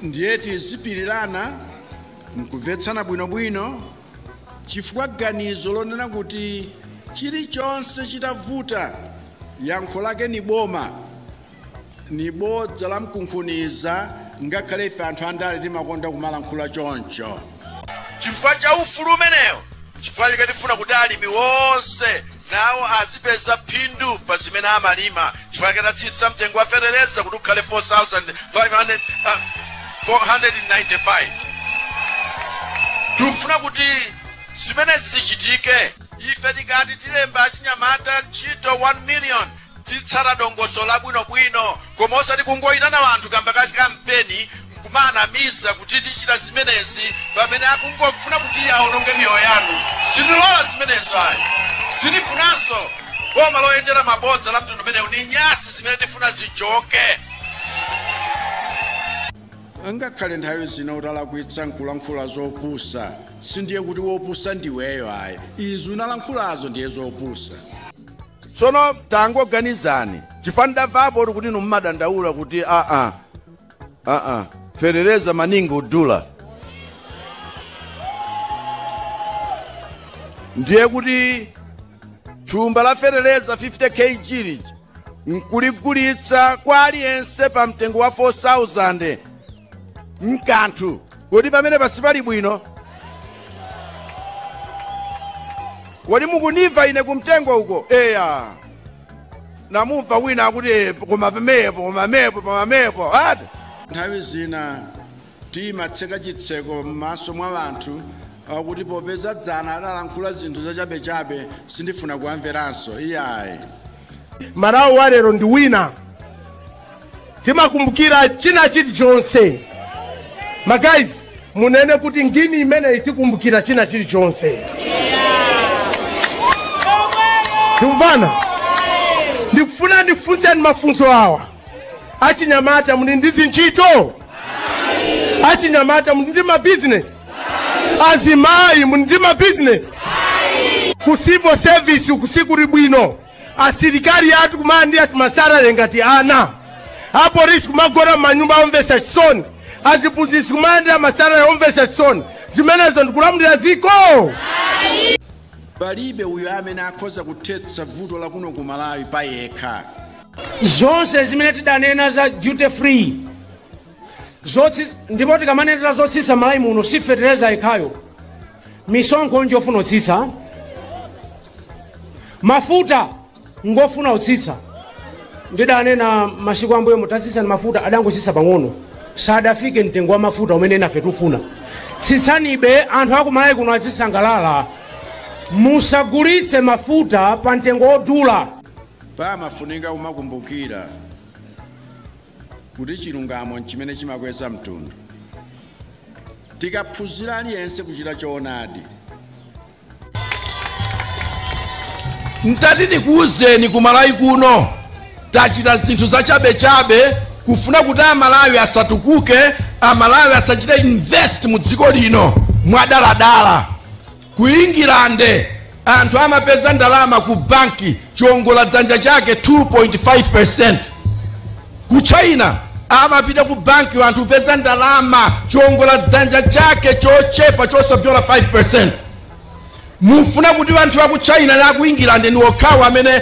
ndiye tizipirirana mkumvetsana bwinobwino chifukwa ganizo lonena kuti chilichonse chitavuta yankho lake ni boma ni bodza la mkunkhuniza ngakhale ife anthu andale timakonda kumalankhula choncho chifukwa cha ufulu umenewo chifukwa chake tifuna kuti alimi wonse nawo azipeza phindu pa zimene amalima chifukwa chake tatsitsa mtengo wa fetereza kuti ukhale 4495 tikufuna kuti zimenezi zichitike ife tikati tilemba achinyamata ntchito 1 million Tizitsata dongosolo labwinobwino koma osati kungoitana anthu kaamba ka kampeni n'kumawanamiza kuti tichita zimenezi pamene akungofuna kuti awononge miyoyo yanu. Sindilola zimenezo ayi. Sindifunanso boma loyendera mabodza la mtundu umenewu. Ndi nyansi zimene tifuna zichoke. Ngakhale nthawi zina utalakwitsa n'kulankhula zopusa, sindiye kuti wopusa ndiweyo ayi. Izo unalankhulazo ndiye zopusa. tsono tangoganizani chifukwa ndamvapo kuti inu mumadandaula kuti aa aa fetereza maningi kudula ndiye kuti thumba la fetereza 50 kg lija nkuligulitsa kwa aliyense pa mtengo wa 4000 mkanthu Kodi pamenepa sipali bwino? Kodi mukundimva ine kumtengo uko? Eya. Namumva wina akuti "Eh, koma pamenepo, koma pamenepo, koma pamenepo. Ati? nthawi zina timatseka chitseko m'maso mwa anthu kuti popeza dzana adalankhula zinthu zachabechabe sindifuna kuwamveranso iyayi Malawi wa lero ndi wina. timakumbukira china chilichonse magayizi munene kuti ngini imene itikumbukira china chilichonse tikumvana ndikufuna ndikufunseni mafunso awa achinyamata muli ndi zintchito achinyamata muli ndi mabizinesi azimayi muli ndi mabizinesi ku civil service uku sikuli bwino asilikali athu kumalandira timasalare ngati ana apolisi kumagona m'manyumba omvesa chisoni aziphunzitsi kumalandira masalare omvesa chisoni zimenezo ndikulamulira dziko palibe uyo amene akhoza kuthetsa vuto la kuno ku malawi pa yekha zonse zimene tidanena za duty free zotsi ndipo tikamanenera zotsitsa malawi muno si fetereza yekhayo misonkho njofuna utsitsa mafuta ngofuna utsitsa ndidanena masiku ambuyomu tatsitsani mafuta adangotsitsa pang'ono sadafike mtengo wa mafuta umene enafe tikufuna tsitsanibe anthu akumalawi kuno azisangalala musagulitse mafuta pa mtengo wodula pamafunika kumakumbukira kuti chilungamo n'chimene chimakweza mtundu. Tikaphunzira aliyense kuchita choonadi. Ntati ndikuwuzeni ku Malawi kuno tachita zinthu zachabechabe kufuna kuti Amalawi asatukuke, Amalawi asachite invest mu dziko lino mwadaladala. Ku Ingilande anthu amapeza ndalama ku banki chiongola dzanja chake 2.5%. Ku China amapita ku banki anthu kupeza ndalama chiongola dzanja chake chochepa chosapyola 5%. mufuna kuti anthu a ku china na a ku england ni okhawo amene